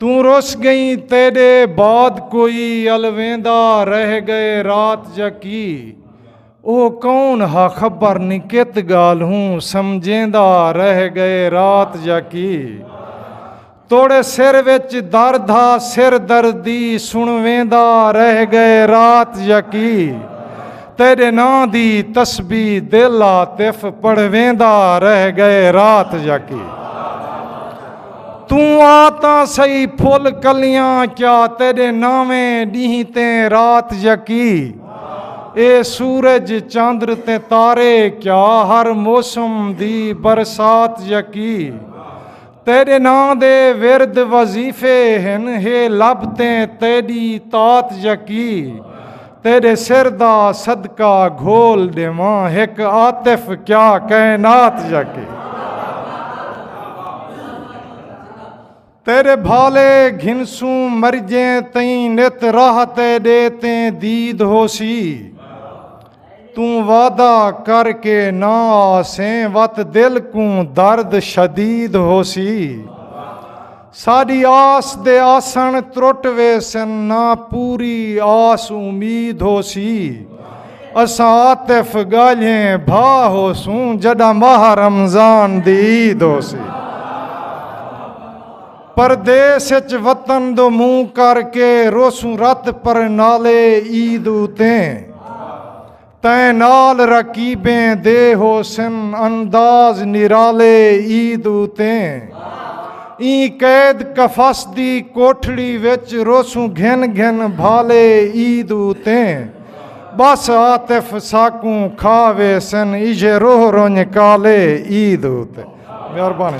توں رس گئیں تیڈے بعد کوئی الویندا رہ گئے رات جا کی او کون ہا خبر نی کت گال ہوں سمجھیندا رہ گئے رات جا کی توڑے سر وچ درد ہا سر دردی سنویندا رہ گئے رات جا کی تیرے نا دی تسبی دل آتف پڑھویندا رہ گئے رات جا کی توں آ تاں سہی پھل کلیاں کیا تیڈے ناویں ڈینہہ تے رات یکی اے سورج چاندر تے تارے کیا ہر موسم دی برسات یکی تیڈے نام دے ورد وظیفے ہن ہے لب تے تیڈی تات یکی تیݙے سر دا صدقہ گھول ݙیواں ہک عاطف کیا کائنات یا کہ تیرے بھالے گھنسوں مرجیں تئیں نت راہ تیڈے تیں دید ہو سی توں وعدہ کر کے نہ آسیں وت دل کوں درد شدید ہو سی ساݙی آس دے آسݨ ترٹ ویسن نہ پوری آس امید ہوسی اساں عاطف ڳالھیں بھا ہوسوں جݙاں ماہ رمضان دی عید ہوسی پردیس اچ وطن دو منہ کر کے روسوں رت پرنالے عید اتیں تئیں نال رقیبیں دے ہوسن انداز نرالے عید اتیں ایں قید قفس دی کوٹھڑی وچ روسوں گھن گھن بھالے عید اتیں بس عاطف ساکوں کھا ویسن ایجھے روہ رنج کالے عید اتیں مہربانی